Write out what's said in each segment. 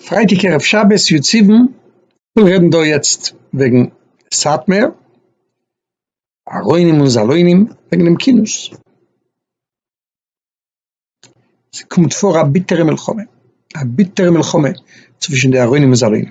פרייטאג ערב שבת יו ט סיוון, כ'וויל רעדן דא יעצט וועגן סאטמער, ארוינים און זאלוינים, וועגן דעם כינוס. ס'קומט פאר א ביטערע מלחמה, א ביטערע מלחמה צווישן די ארוינים און זאלוינים.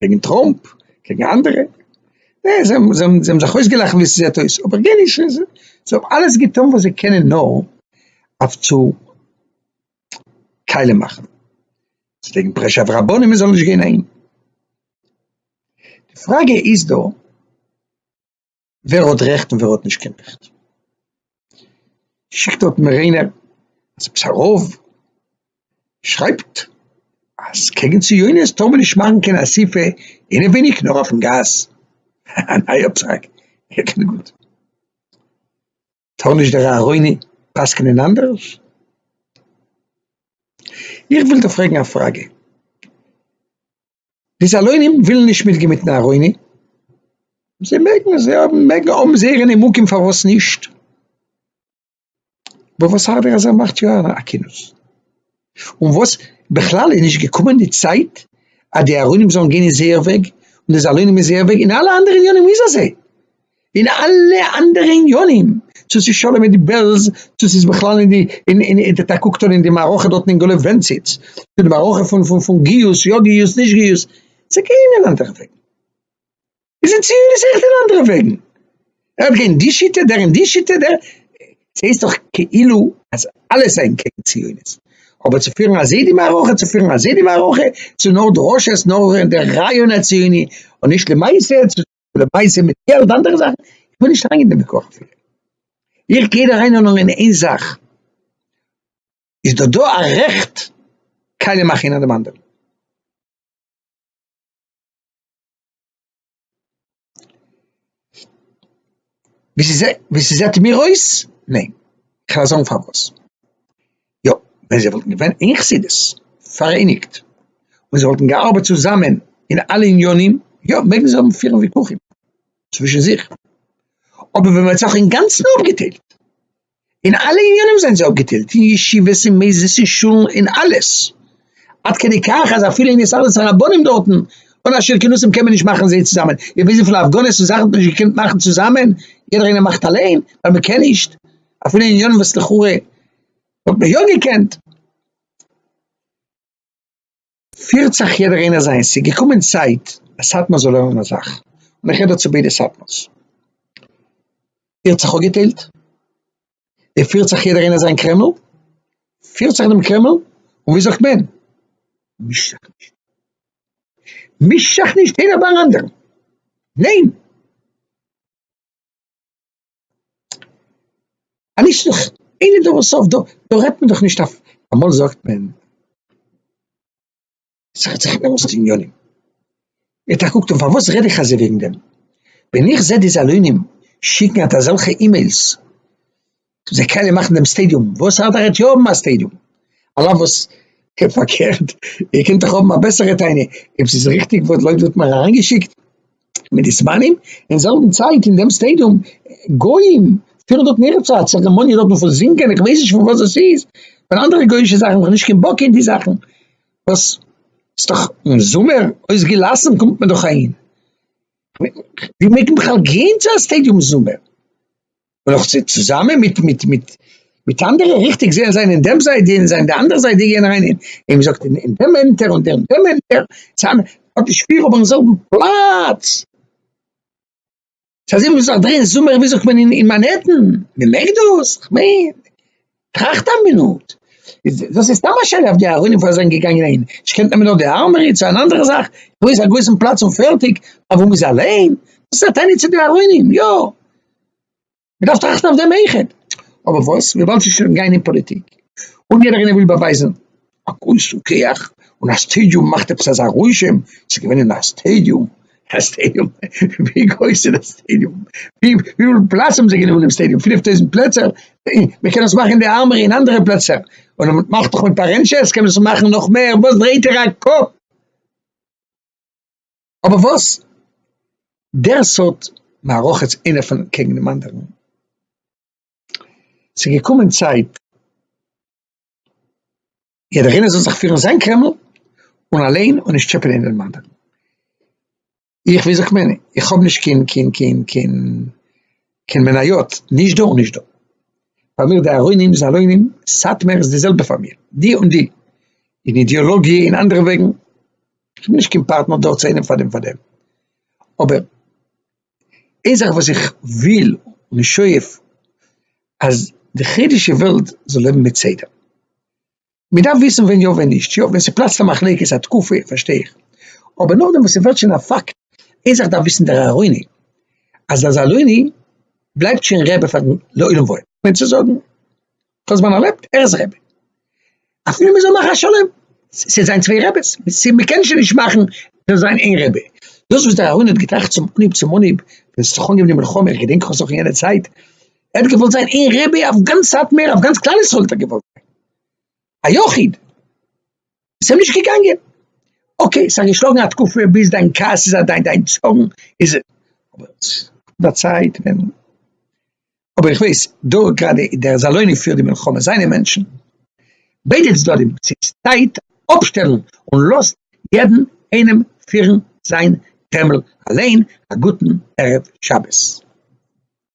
קעגן טראמפ, קעגן אנדערע, נעע זיי האבן זיי האבן זיך אויסגעלאכט ווי ס'זעט אויס, אבער גענישט זיי האבן אלעס געטון וואס זיי קענען נאר אויף צו קיילען מאכן, צו לייגן פרעשור אויף רבנים מען זאל נישט גיין אהין, די פראגע איז דא. ווער האט רעכט און ווער האט נישט קיין רעכט. שיקט דארט מיר איינער אז עפעס א רב שרייבט אז קעגן ציונות טאר מען נישט מאכן קיין אסיפה אינעוויניג נאר אויפן גאס, א נייע פסק, גוט. טאר נישט דער אהרוני פסק'נען אנדערש? איך וויל דא פרעגן א פראגע, די זאלוינים ווילן נישט מיטגיין מיטן אהרוני, זיי מעגן, זיי האבן, מעגן האבן זייערע נימוקים פארוואס נישט, וואס הארדער אז ער מאכט יא א כינוס. און וואס בכלל איז נישט געקומען די צייט אז די ארונים זאלן גיין אין זייער וועג, און די זאלונים אין זייער וועג, אין אלע אנדערע עניינים איז אזוי, אין אלע אנדערע עניינים, צו ס'איז שלום מיט די בעלז, צו ס'איז בכלל אין די, אין די, טא קוקט אן אין די מערכה דארטן אין גאלעוו ווענציץ, צו די מערכה פון גיוס, יא גיוס, נישט גיוס, זיי גייען אין אנדערע וועגן. איז אין ציון איז עכט אין אנדערע וועגן, ער האט געהערט די שיטה, דער אין די שיטה, דער, עס הייסט דאך כאילו אז אלע זענען קעגן ציונות, אבער צו פירן אזוי די מערכה, צו פירן אזוי די מערכה, צו נאר דרשות, נאר דער רעיון הציוני, און נישט למעשה, צו למעשה מיט געלט און אנדערע זאכן, איך וויל נישט אריינגיין אין דעם ויכוח אפילו, איך גיי דא אריין נאר אין איין זאך, איז דא דא א רעכט קיילע מאכן איינער דעם אנדערן? ווי ס'זעט מיר אויס, ניין. כ'על זאגן פארוואס. יא, ווען זיי וואלטן געווען אין חסידות, פאראייניגט, און זיי וואלטן געארבעט צוזאמען אין אלע עניינים, יא, מעגן זיי האבן פירן וויכוחים צווישן זיך. אבער ווען מ'האט זיך אינגאנצן אפגעטיילט, אין אלע עניינים זענען זיי אפגעטיילט, אין ישיבות אין מעיזעס אין שולן אין אלעס, עד כדי כך אז אפילו אין הסתדרות הרבנים דארטן אן א שיעור כינוסים קען מען נישט מאכן זיי צוזאמען, איר וויסט וויפיל הפגנות און זאכן מען האט נישט געקענט מאכן צוזאמען, יעדער איינער מאכט אליין ווייל מען קען נישט, אפילו אין עניינים וואס לכאורה וואלט מען יא געקענט. פירט זיך יעדער איינער זיינס, ס'איז געקומען צייט אז סאטמאר זאל לערנען א זאך, און איך רעד דא צו ביידע סאטמאר'ס, איר האט זיך אפגעטיילט, איר פירט זיך יעדער איינער זיין קרעמל, פירט זיך דעם קרעמל, און ווי זאגט מען, מיש זיך נישט, מיש זיך נישט איינער ביי אן אנדערן, ניין! א נישט זיך אין אין דארער סוף דא רעדט מען דאך נישט אויף אמאל זאגט מען ס'רעדט זיך אינעם ערשטע יונים ווערט א קוקט און פארוואס רעד איך אזוי וועגן דעם ווען איך זע די זאלוינים שיקן אט אזעלכע אימעילס זיי קענען מאכן דעם סטעדיום וואס אדער עט יא האבן א סטעדיום על אף וואס פארקערט איר קענט דאך האבן א בעסערע טענה אויב ס'איז ריכטיג וואס לויט וואס מ'האט אריינגעשיקט מיט די זמנים, אין זעלבן צייט אין דעם סטעידיום גוים פירן דארט מער צו א צערעמאניע דארטן פון זינגען, איך ווייס נישט פון וואס דאס איז, פון אנדערע גוי'אישע זאכן, איך האב נישט קיין בק אין די זאכן, וואס איז דאך אין זומער אויסגעלאסן קומט מען דאך אהין, ווי מעג מען בכלל גיין צו א סטעידיום זומער? און נאך צו צוזאמען מיט מיט מיט מיט אנדערע ריכטיג זעהן זיין אין דעם זייט אין זיין די אנדערע זייט די גייען אריין אין אין זאגט אין דעם ענטער און דעם דעם ענטער צאם האט נישט פיר אבער אין זעלבן פלאץ ס'אזוי ווי מ'זאל זיך דרייען זומער ווי זאגט מען אין מאנהעטן מ'מעג דאס? כ'מיין טראכט א מינוט, דאס איז סתם א שאלה אויף די ארונים פארוואס זיי זענען געגאנגען אהין, נישט קענט נעמען נאר די ארמארי צו אן אנדערע זאך, דא איז א גרויסן פלאץ און פערטיג, אוואו מ'איז אליין, דאס איז א טענה צו די ארונים, יא, מ'דארף טראכטן אויף דעם איכעט, אבער וואס, וויבאלד ס'איז שוין גיין אין פאליטיק, און יעדער איינער וויל באווייזן. א כוס און קיך און א סטעדיום מאכט עפעס אזא רושם, ס'איז געווען אין א סטעדיום, א סטעדיום? ווי גרויס איז די סטעדיום? וויפיל פלאץ האבן זיי גענומען אין סטעדיום? פינף טויזנט פלעצער? איא, מען קען דאס מאכן אין די ארמארי אין אנדערע פלעצער, און מען מאכט דאך מיט פארענטשעס קען מען דאס מאכן נאך מער, וואס דרייט איר א קאפ? אבער וואס? דער סארט מערכות איינער פון קעגן דעם אנדערן, ס'איז געקומען צייט יעדער איינער זאל זיך פירן זיין קרעמל און אליין און נישט טשעפענען אינעם אנדערן. איך ווי זאגט מען איך האב נישט קיין קיין קיין קיין קיין מניות נישט דא און נישט דא. פאר מיר די ארוינים זאלוינים סאטמער איז די זעלבע פאר מיר די און די אין אידיאלאגיע אין אנדערע וועגן. איך בין נישט קיין פארטנער דארט צו איינעם פאר דעם פאר דעם אבער. איין זאך וואס איך וויל און שואף אז די חרדישע וועלט זאל לעבן מיט סדר, מען דארף וויסן ווען יא ווען נישט, יא ווען ס'פלאצט א מחלוקת א תקופה פארשטיי איך, אבער נאכדעם וואס ס'ווערט שוין א פאקט, איין זאך דארף וויסן דער ארוני, אז דער זאלוני בלייבט שוין רבי פאר לעולם ועד, מיינט צו זאגן דאס ווען ער לעבט, ער איז רעבע, אפילו מ'זאל מאכן א שלום, ס'איז זיין צוויי רעבעס, מ'קען שוין נישט מאכן דאס זיין איין רעבע, דאס וואס דער אהרן האט געטראכט צום אנהויב צום אנהויב, ווען ס'האט זיך אנגעהויבן די מלחמה, איך געדענק כ'האב זיך אין יענע צייט, ער האט געוואלט זיין איין רעבע אויף גאנץ סאטמער, אויף גאנץ כלל ישראל האט ער געוואלט זיין א יחיד, ס'איז אים נישט געגאנגען, אקעי, ס'האט געשלאגן א תקופה ביז דיין כעס איז אוועק, דיין צארן איז אוועק, אבער די צייט ווען אבער איך ווייס דא גראדע דער זאלוני פירט די מלחמה זיינע מענטשן ביידע צדדים ס'איז צייט אפשטעלן און לאזט יעדן איינעם פירן זיין קרעמל אליין א גוטן ערב שבת.